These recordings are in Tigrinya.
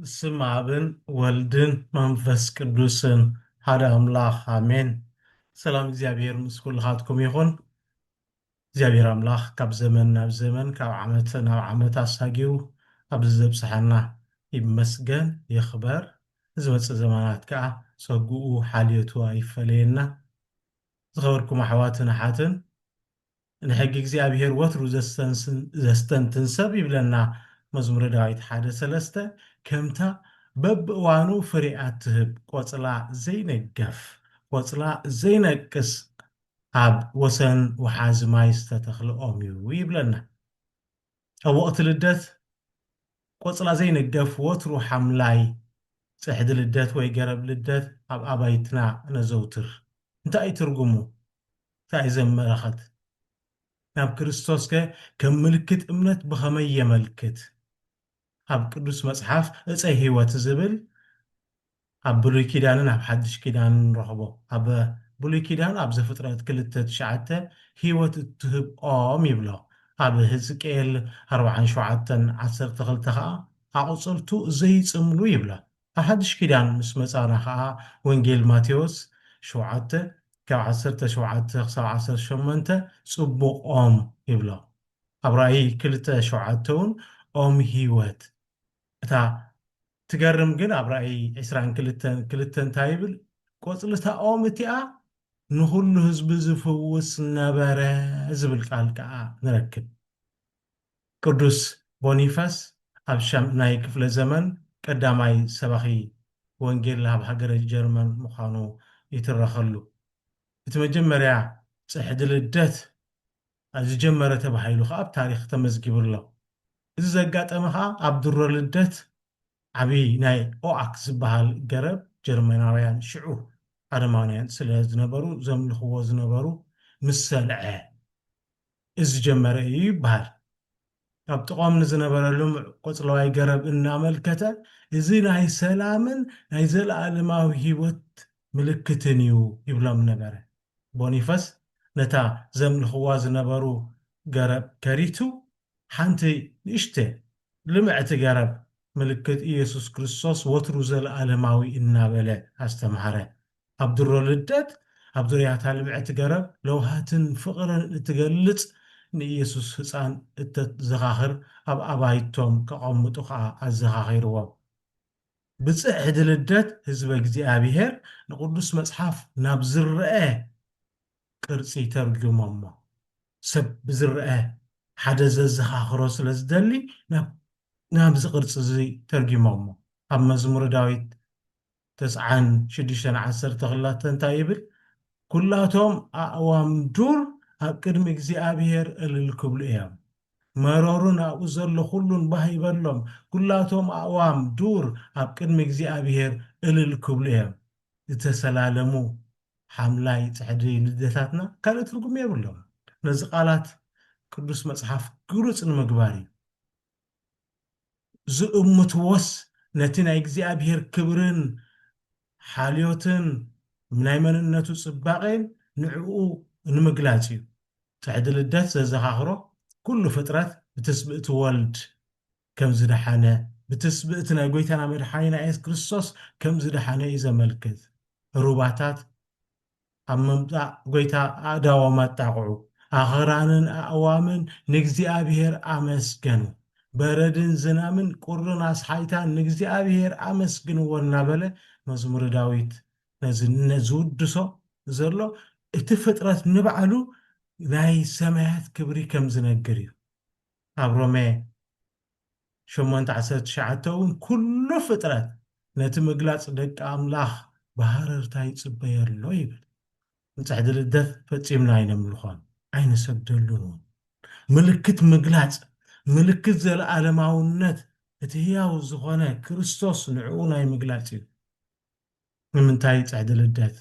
ብስም ኣብን ወልድን መንፈስ ቅዱስን ሓደ ኣምላኽ ኣሜን። ሰላም እግዚኣብሔር ምስ ኩልኻትኩም ይኹን። እግዚኣብሔር ኣምላኽ ካብ ዘመን ናብ ዘመን ካብ ዓመት ናብ ዓመት ኣሳጊው ኣብዚ ዘብጽሓና ይመስገን ይኽበር። ንዝመጽእ ዘመናት ከኣ ጸግኡ ሓልዮቱ ኣይፈለየና። ዝኸበርኩም ኣሕዋትን ኣሓትን ንሕጊ እግዚኣብሄር ወትሩ ዘስተንትን ሰብ ይብለና መዝሙረ ዳዊት ሓደ ሰለስተ፣ ከምታ በብእዋኑ ፍሪኣ እትህብ ቆጽላ ዘይነገፍ፣ ቆጽላ ዘይነቅጽ ኣብ ወሰን ወሓዚ ማይ ዝተተኽለ ኦም እዩ ይብለና። ኣብ ወቕቲ ልደት ቆጽላ ዘይንገፍ ወትሩ ሓምላይ ጽሕዲ ልደት ወይ ገረብ ልደት ኣብ ኣባይትና ነዘውትር። እንታይ እዩ ትርጉሙ? እንታይ እዩ ዘመላኽት? ናብ ክርስቶስከ ከም ምልክት እምነት ብኸመይ የመልክት? ኣብ ቅዱስ መጽሓፍ ዕፀ ሕይወት ዝብል ኣብ ብሉይ ኪዳንን ኣብ ሓድሽ ኪዳንን ንረኽቦ። ኣብ ብሉይ ኪዳን ኣብ ዘፍጥረት ክልተ ትሽዓተ ሕይወት እትህብ ኦም ይብሎ። ኣብ ህዝቅኤል ኣርብዓን ሸውዓተን ዓሰርተ ክልተ ኸኣ ኣቑጽልቱ ዘይጽምሉ ይብሎ። ኣብ ሓድሽ ኪዳን ምስ መጻና ኸኣ ወንጌል ማቴዎስ ሸውዓተ ካብ ዓሰርተ ሸውዓተ ክሳብ ዓሰርተ ሸሞንተ ጽቡቕ ኦም ይብሎ። ኣብ ራእይ ክልተ ሸውዓተ ውን ኦም ህይወት እታ ትገርም ግን ኣብ ራእይ ዕስራን ክልተን ክልተ እንታይ ይብል ቆጽሊ እታ ኦም እቲኣ ንኹሉ ህዝቢ ዝፍውስ ነበረ ዝብል ቃል ከኣ ንረክብ ቅዱስ ቦኒፈስ ኣብ ሻምናይ ክፍለ ዘመን ቀዳማይ ሰባኺ ወንጌል ኣብ ሃገረ ጀርመን ምዃኑ ይትረኸሉ እቲ መጀመርያ ጽሕዲ ልደት ዝጀመረ ተባሂሉ ከኣ ኣብ ታሪኽ ተመዝጊቡ ኣሎ። እዚ ዘጋጠመ ከኣ ኣብ ድሮ ልደት ዓቢ ናይ ኦኣክ ዝበሃል ገረብ ጀርመናውያን ሽዑ ኣረማውያን ስለ ዝነበሩ ዘምልኽዎ ዝነበሩ ምስ ሰልዐ ዝጀመረ እዩ ይበሃል። ካብ ጥቕኦም ንዝነበረ ልሙዕ ቆጽለዋይ ገረብ እናመልከተ፣ እዚ ናይ ሰላምን ናይ ዘለኣለማዊ ህይወት ምልክትን እዩ ይብሎም ነበረ። ቦኒፈስ ነታ ዘምልኽዋ ዝነበሩ ገረብ ከሪቱ፣ ሓንቲ ንእሽተ ልምዕቲ ገረብ ምልክት ኢየሱስ ክርስቶስ ወትሩ ዘለኣለማዊ እናበለ ኣስተምሃረ። ኣብ ድሮ ልደት ኣብ ዙርያታ ልምዕቲ ገረብ ለውሃትን ፍቕርን እትገልጽ ንኢየሱስ ህጻን እተዘኻኽር ኣብ ኣባይቶም ከቐምጡ ከኣ ኣዘኻኺርዎም። ብጽሕዲ ልደት ህዝበ እግዚኣብሔር ንቅዱስ መጽሓፍ ናብ ዝረኣ ቅርጺ ተርጉሞሞ። ሰብ ብዝረኣ ሓደ ዘዘኻኽሮ ስለ ዝደሊ ናብ ናብዚ ቅርጺ እዚ ተርጉሞሞ። ኣብ መዝሙረ ዳዊት ተስዓን ሽዱሽተን ዓሰርተ ክላተ እንታይ ይብል? ኵላቶም ኣእዋም ዱር ኣብ ቅድሚ እግዚኣብሄር እልል ክብሉ እዮም፣ መሮርን ኣብኡ ዘሎ ዅሉን ባህ ይበሎም፣ ኵላቶም ኣእዋም ዱር ኣብ ቅድሚ እግዚኣብሄር እልል ክብሉ እዮም። ዝተሰላለሙ ሓምላይ ጽሕዲ ልደታትና ካልእ ትርጕም የብሎምን። ነዚ ቓላት ቅዱስ መጽሓፍ ግሉጽ ንምግባር እዩ። ዝእምትዎስ ነቲ ናይ እግዚኣብሔር ክብርን ሓልዮትን ናይ መንነቱ ጽባቄን ንዕኡ ንምግላጽ እዩ። ጽሕዲ ልደት ዘዘኻኽሮ ኩሉ ፍጥረት ብትስብእቲ ወልድ ከም ዝደሓነ ብትስብእቲ ናይ ጎይታና መድሓኒና የሱስ ክርስቶስ ከም ዝደሓነ እዩ ዘመልክት። ሩባታት ኣብ ምምጻእ ጐይታ ኣእዳዎም ኣጣቕዑ፣ ኣኽራንን ኣእዋምን ንእግዚኣብሄር ኣመስገኑ፣ በረድን ዝናምን ቍርን ኣስሓይታን ንእግዚኣብሄር ኣመስግንዎ እናበለ መዝሙረ ዳዊት ነዚ ዝውድሶ ዘሎ እቲ ፍጥረት ንባዕሉ ናይ ሰማያት ክብሪ ከም ዝነግር እዩ። ኣብ ሮሜ ሸሞንተ ዓሰርተ ትሽዓተ እውን ኵሉ ፍጥረት ነቲ ምግላጽ ደቂ ኣምላኽ ብሃረርታ ይጽበዮ ኣሎ ይብል። ንጽሕዲ ልደት ፈጺምና ኣይነምልኾን፣ ኣይንሰግደሉን እውን። ምልክት ምግላጽ፣ ምልክት ዘለኣለማውነት እቲ ህያው ዝዀነ ክርስቶስ ንዕኡ ናይ ምግላጽ እዩ። ንምንታይ ጽሕዲ ልደት?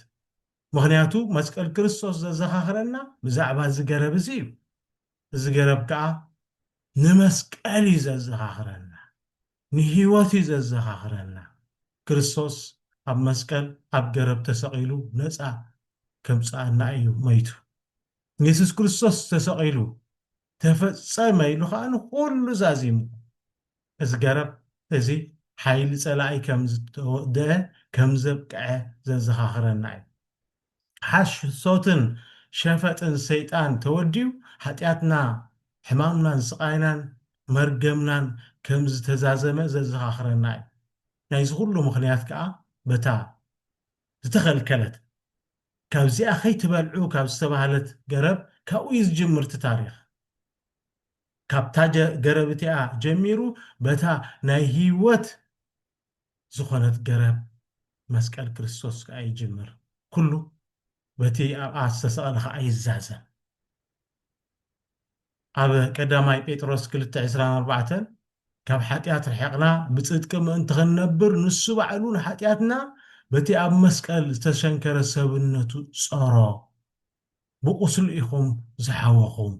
ምኽንያቱ መስቀል ክርስቶስ ዘዘኻኽረና ብዛዕባ እዚ ገረብ እዚ እዩ። እዚ ገረብ ከኣ ንመስቀል እዩ ዘዘኻኽረና፣ ንህይወት እዩ ዘዘኻኽረና፣ ክርስቶስ ኣብ መስቀል ኣብ ገረብ ተሰቒሉ ነጻ ከምጽኣና እዩ መይቱ። የሱስ ክርስቶስ ተሰቒሉ ተፈጸመ ኢሉ ከኣ ንኹሉ ዛዚሙ። እዚ ገረብ እዚ ሓይሊ ጸላኢ ከም ዝተወድኣ ከም ዘብቅዐ ዘዘኻኽረና እዩ። ሓሶትን ሸፈጥን ሰይጣን ተወዲኡ ሓጢኣትና ሕማምናን ስቓይናን መርገምናን ከም ዝተዛዘመ ዘዘኻኽረና እዩ። ናይዚ ኹሉ ምኽንያት ከኣ በታ ዝተኸልከለት ካብዚኣ ከይትበልዑ ካብ ዝተባህለት ገረብ ካብኡ እዩ ዝጅምር እቲ ታሪኽ። ካብታ ገረብ እቲኣ ጀሚሩ በታ ናይ ህይወት ዝኾነት ገረብ መስቀል ክርስቶስ ከኣ ይጅምር። ኩሉ በቲ ኣብኣ ዝተሰቕለ ከኣ ይዛዘም። ኣብ ቀዳማይ ጴጥሮስ ክልተ ዕስራን ኣርባዕተን ካብ ሓጢኣት ርሒቕና ብጽድቂ ምእንቲ ክንነብር ንሱ ባዕሉ ንሓጢኣትና በቲ ኣብ መስቀል ዝተሸንከረ ሰብነቱ ጸሮ ብቁስሉ ኢኹም ዝሓወኹም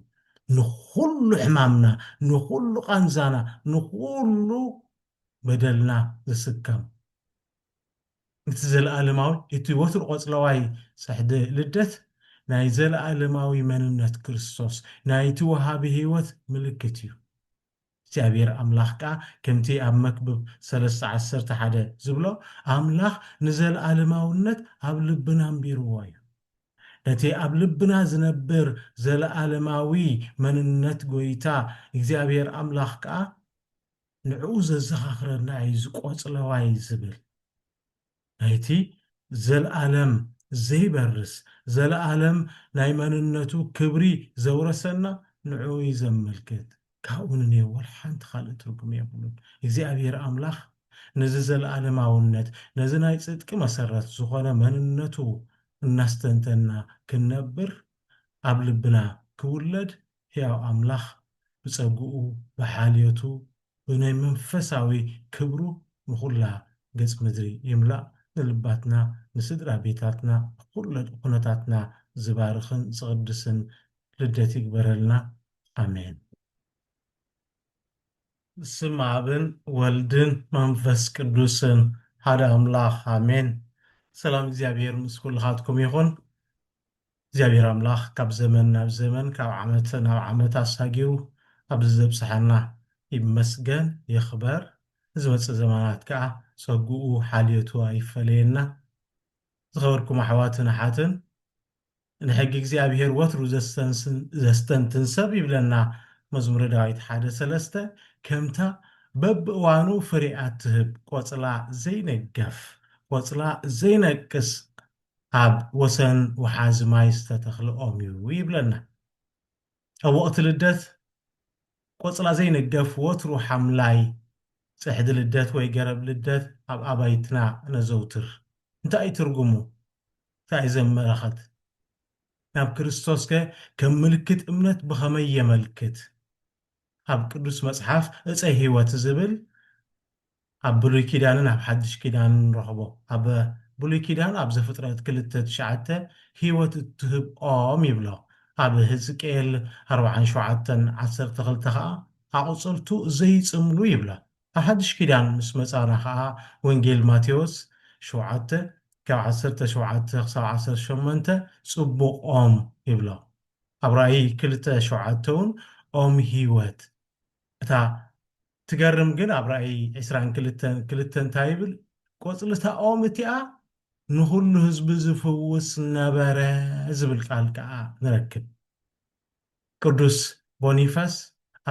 ንኹሉ ሕማምና ንኹሉ ቃንዛና ንኹሉ በደልና ዝስከም እቲ ዘለኣለማዊ እቲ ወትሩ ቆጽለዋይ ጽሕዲ ልደት ናይ ዘለኣለማዊ መንነት ክርስቶስ ናይቲ ወሃቢ ሕይወት ምልክት እዩ። እግዚኣብሔር ኣምላኽ ከኣ ከምቲ ኣብ መክብብ ሰለስተ ዓሰርተ ሓደ ዝብሎ ኣምላኽ ንዘለኣለማውነት ኣብ ልብና ኣንቢርዎ እዩ። ነቲ ኣብ ልብና ዝነብር ዘለኣለማዊ መንነት ጎይታ እግዚኣብሔር ኣምላኽ ከኣ ንዕኡ ዘዘኻኽረና እዩ እዚ ቆጽለዋይ ዝብል ናይቲ ዘልኣለም ዘይበርስ ዘልኣለም ናይ መንነቱ ክብሪ ዘውረሰና ንዕኡ እዩ ዘመልክት ካብኡ ንኔው ወላ ሓንቲ ካልእ ትርጉም የብሉን እግዚኣብሔር ኣምላኽ ነዚ ዘልኣለማውነት ነዚ ናይ ጽድቂ መሰረት ዝኾነ መንነቱ እናስተንተና ክንነብር ኣብ ልብና ክውለድ ሕያው ኣምላኽ ብጸግኡ ብሓልዮቱ ብናይ መንፈሳዊ ክብሩ ንኹላ ገጽ ምድሪ ይምላእ ንልባትና ንስድራ ቤታትና ንኹለ ኩነታትና ዝባርኽን ዝቕድስን ልደት ይግበረልና ኣሜን። ብስም ኣብን ወልድን መንፈስ ቅዱስን ሓደ ኣምላኽ ኣሜን። ሰላም እግዚኣብሔር ምስ ኩልኻትኩም ይኹን። እግዚኣብሔር ኣምላኽ ካብ ዘመን ናብ ዘመን ካብ ዓመት ናብ ዓመት ኣሳጊሩ ኣብዚ ዘብጽሓና ይመስገን ይኽበር ንዝመጽእ ዘመናት ከኣ ጸግኡ ሓልዮቱ ኣይፈለየና ዝኸበርኩም ኣሕዋትን ኣሓትን ንሕጊ እግዚኣብሔር ወትሩ ዘስተንትን ሰብ ይብለና መዝሙረ ዳዊት ሓደ ሰለስተ ከምታ በብእዋኑ ፍሬኣ ትህብ ቆጽላ ዘይነገፍ ቆጽላ ዘይነቅስ ኣብ ወሰን ወሓዚ ማይ ዝተተኽለ ኦም እዩ ይብለና። ኣብ ወቕቲ ልደት ቆጽላ ዘይንገፍ ወትሩ ሓምላይ ጽሕዲ ልደት ወይ ገረብ ልደት ኣብ ኣባይትና ነዘውትር። እንታይ እዩ ትርጉሙ? እንታይ እዩ ዘመላኽት? ናብ ክርስቶስከ ከም ምልክት እምነት ብኸመይ የመልክት? ኣብ ቅዱስ መጽሓፍ ዕፀ ሕይወት ዝብል ኣብ ብሉይ ኪዳንን ኣብ ሓድሽ ኪዳንን ንረኽቦ። ኣብ ብሉይ ኪዳን ኣብ ዘፍጥረት ክልተ ትሽዓተ ሕይወት እትህብ ኦም ይብሎ። ኣብ ህዝቅኤል ኣርብዓን ሸውዓተን ዓሰርተ ክልተ ኸኣ ኣቑጽልቱ ዘይጽምሉ ይብሎ። ኣብ ሓድሽ ኪዳን ምስ መጻና ኸኣ ወንጌል ማቴዎስ ሸውዓተ ካብ ዓሰርተ ሸውዓተ ክሳብ ዓሰርተ ሸሞንተ ጽቡቕ ኦም ይብሎ። ኣብ ራእይ ክልተ ሸውዓተ ውን ኦም ህይወት እታ ትገርም ግን ኣብ ራእይ ዕስራን ክልተን ክልተ እንታይ ይብል ቆጽሊ እታ ኦም እቲኣ ንኹሉ ህዝቢ ዝፍውስ ነበረ ዝብል ቃል ከኣ ንረክብ ቅዱስ ቦኒፈስ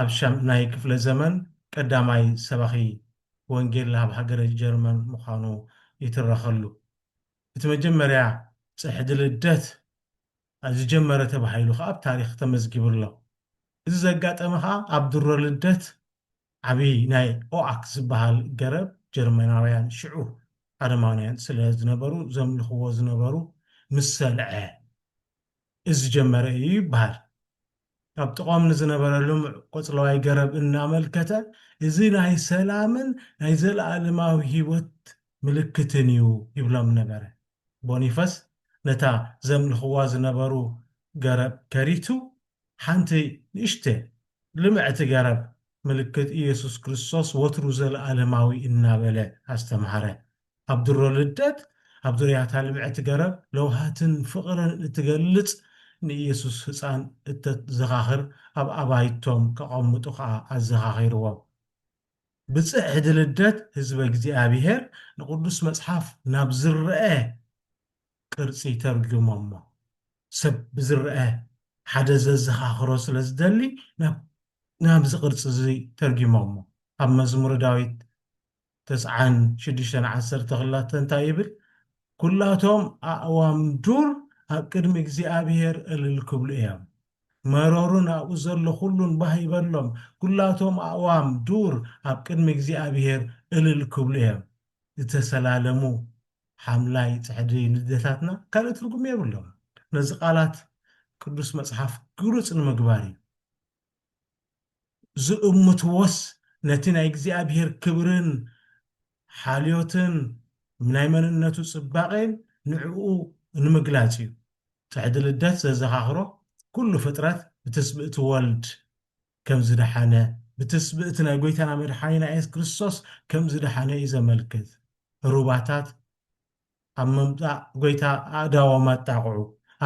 ኣብ ሻምናይ ክፍለ ዘመን ቀዳማይ ሰባኺ ወንጌል ኣብ ሃገረ ጀርመን ምዃኑ ይትረኸሉ እቲ መጀመርያ ጽሕዲ ልደት ዝጀመረ ተባሂሉ ከኣ ኣብ ታሪኽ ተመዝጊቡ ኣሎ። እዚ ዘጋጠመ ከኣ ኣብ ድሮ ልደት ዓቢ ናይ ኦኣክ ዝበሃል ገረብ ጀርመናውያን ሽዑ ኣረማውያን ስለ ዝነበሩ ዘምልኽዎ ዝነበሩ ምስ ሰልዐ ዝጀመረ እዩ ይበሃል። ኣብ ጥቕኦም ንዝነበረ ልሙዕ ቆጽለዋይ ገረብ እናመልከተ፣ እዚ ናይ ሰላምን ናይ ዘለኣለማዊ ህይወት ምልክትን እዩ ይብሎም ነበረ። ቦኒፈስ ነታ ዘምልኽዋ ዝነበሩ ገረብ ከሪቱ፣ ሓንቲ ንእሽተ ልምዕቲ ገረብ ምልክት ኢየሱስ ክርስቶስ ወትሩ ዘለኣለማዊ እናበለ ኣስተምሃረ። ኣብ ድሮ ልደት ኣብ ዙርያታ ልምዕቲ ገረብ ለውሃትን ፍቕርን እትገልጽ ንኢየሱስ ህጻን እተዘኻኽር ኣብ ኣባይቶም ከቐምጡ ከኣ ኣዘኻኺርዎም። ብጽሕዲ ልደት ህዝበ እግዚኣብሔር ንቅዱስ መጽሓፍ ናብ ዝረኣ ቅርጺ ተርጉሞሞ። ሰብ ብዝረኣ ሓደ ዘዘኻኽሮ ስለ ዝደሊ ናብ ናብዚ ቅርጺ እዚ ተርጉሞሞ። ኣብ መዝሙረ ዳዊት ተስዓን ሽዱሽተን ዓሰርተ ክላተ እንታይ ይብል? ኵላቶም ኣእዋም ዱር ኣብ ቅድሚ እግዚኣብሄር እልል ክብሉ እዮም፣ መሮርን ኣብኡ ዘሎ ዅሉን ባህ ይበሎም፣ ኵላቶም ኣእዋም ዱር ኣብ ቅድሚ እግዚኣብሄር እልል ክብሉ እዮም። ዝተሰላለሙ ሓምላይ ጽሕዲ ልደታትና ካልእ ትርጕም የብሎምን። ነዚ ቓላት ቅዱስ መጽሓፍ ግሉጽ ንምግባር እዩ። ዝእምትዎስ ነቲ ናይ እግዚኣብሔር ክብርን ሓልዮትን ናይ መንነቱ ጽባቄን ንዕኡ ንምግላጽ እዩ። ጽሕዲ ልደት ዘዘኻኽሮ ኩሉ ፍጥረት ብትስብእቲ ወልድ ከም ዝደሓነ ብትስብእቲ ናይ ጎይታና መድሓኒና የሱስ ክርስቶስ ከም ዝደሓነ እዩ ዘመልክት። ሩባታት ኣብ ምምጻእ ጐይታ ኣእዳዎም ኣጣቕዑ፣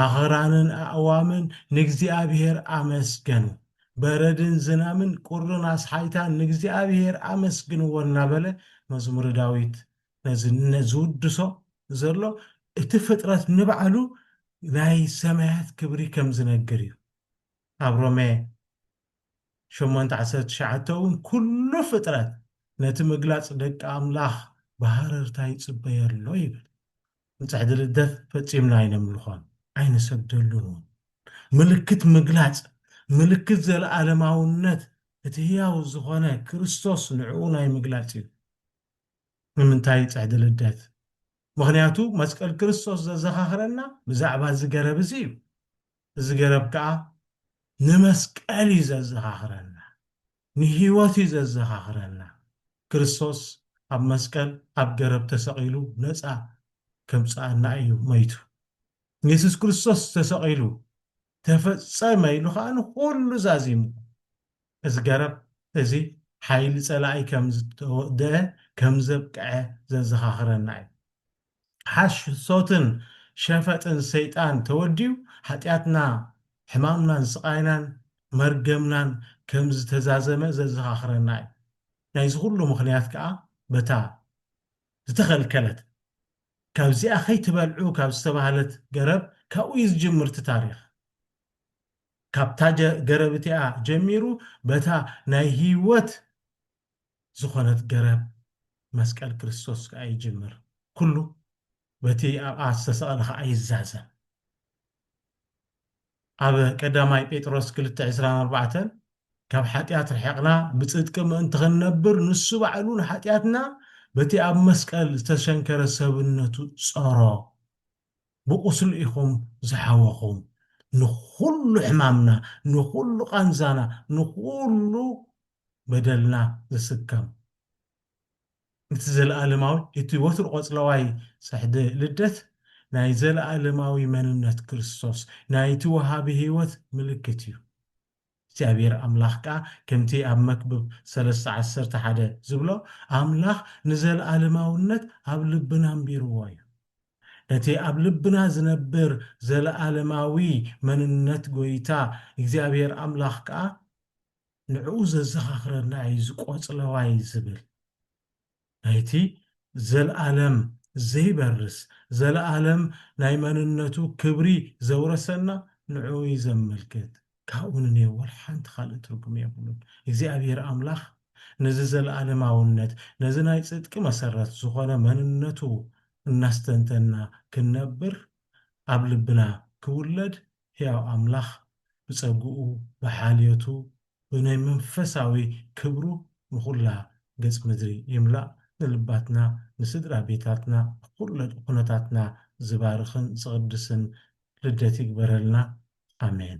ኣኽራንን ኣእዋምን ንእግዚኣብሄር ኣመስገኑ፣ በረድን ዝናምን ቍርን ኣስሓይታን ንእግዚኣብሄር ኣመስግንዎ እናበለ መዝሙረ ዳዊት ነዚ ዝውድሶ ዘሎ እቲ ፍጥረት ንባዕሉ ናይ ሰማያት ክብሪ ከም ዝነግር እዩ። ኣብ ሮሜ ሸሞንተ ዓሰርተ ትሽዓተ እውን ኵሉ ፍጥረት ነቲ ምግላጽ ደቂ ኣምላኽ ብሃረርታ ይጽበዮ ኣሎ ይብል። ንጽሕዲ ልደት ፈጺምና ኣይነምልኾን፣ ኣይንሰግደሉን እውን። ምልክት ምግላጽ፣ ምልክት ዘለኣለማውነት እቲ ህያው ዝዀነ ክርስቶስ ንዕኡ ናይ ምግላጽ እዩ። ንምንታይ ጽሕዲ ልደት? ምኽንያቱ መስቀል ክርስቶስ ዘዘኻኽረና ብዛዕባ እዚ ገረብ እዚ እዩ። እዚ ገረብ ከኣ ንመስቀል እዩ ዘዘኻኽረና፣ ንህይወት እዩ ዘዘኻኽረና፣ ክርስቶስ ኣብ መስቀል ኣብ ገረብ ተሰቒሉ ነጻ ከምጽኣና እዩ መይቱ። የሱስ ክርስቶስ ተሰቒሉ ተፈጸመ ኢሉ ከኣ ንኹሉ ዛዚሙ። እዚ ገረብ እዚ ሓይሊ ጸላኢ ከም ዝተወድኣ ከም ዘብቅዐ ዘዘኻኽረና እዩ። ሓሶትን ሸፈጥን ሰይጣን ተወዲኡ ሓጢኣትና ሕማምናን ስቓይናን መርገምናን ከም ዝተዛዘመ ዘዘኻኽረና እዩ። ናይዚ ኹሉ ምኽንያት ከኣ በታ ዝተኸልከለት ካብዚኣ ከይትበልዑ ካብ ዝተባህለት ገረብ ካብኡ እዩ ዝጅምር እቲ ታሪኽ። ካብታ ገረብ እቲኣ ጀሚሩ በታ ናይ ህይወት ዝኾነት ገረብ መስቀል ክርስቶስ ከኣ ይጅምር። ኩሉ በቲ ኣብኣ ዝተሰቕለ ከኣ ይዛዘም። ኣብ ቀዳማይ ጴጥሮስ ክልተ ዕስራን ኣርባዕተን ካብ ሓጢኣት ርሒቕና ብጽድቂ ምእንቲ ክንነብር ንሱ ባዕሉ ንሓጢኣትና በቲ ኣብ መስቀል ዝተሸንከረ ሰብነቱ ጸሮ ብቁስሉ ኢኹም ዝሓወኹም ንኹሉ ሕማምና ንኹሉ ቃንዛና ንኹሉ በደልና ዝስከም እቲ ዘለኣለማዊ እቲ ወትሩ ቆጽለዋይ ጽሕዲ ልደት ናይ ዘለኣለማዊ መንነት ክርስቶስ ናይቲ ወሃቢ ሕይወት ምልክት እዩ። እግዚኣብሄር ኣምላኽ ከኣ ከምቲ ኣብ መክብብ ሰለስተ ዓሰርተ ሓደ ዝብሎ ኣምላኽ ንዘልኣለማውነት ኣብ ልብና ኣንቢርዎ እዩ። ነቲ ኣብ ልብና ዝነብር ዘለኣለማዊ መንነት ጎይታ እግዚኣብሄር ኣምላኽ ከኣ ንዕኡ ዘዘኻኽረና እዩ እዚ ቆጽለዋይ ዝብል። ናይቲ ዘልኣለም ዘይበርስ ዘለኣለም ናይ መንነቱ ክብሪ ዘውረሰና ንዕኡ እዩ ዘመልክት ካብኡ ንኔ ወላ ሓንቲ ካልእ ትርጉም የብሉን እግዚኣብሄር ኣምላኽ ነዚ ዘለኣለማውነት ነዚ ናይ ጽድቂ መሰረት ዝኾነ መንነቱ እናስተንተንና ክንነብር ኣብ ልብና ክውለድ ሕያው ኣምላኽ ብጸግኡ ብሓልዮቱ ብናይ መንፈሳዊ ክብሩ ንኹላ ገጽ ምድሪ ይምላእ ንልባትና ንስድራ ቤታትና ንኹለ ኩነታትና ዝባርኽን ዝቕድስን ልደት ይግበረልና ኣሜን።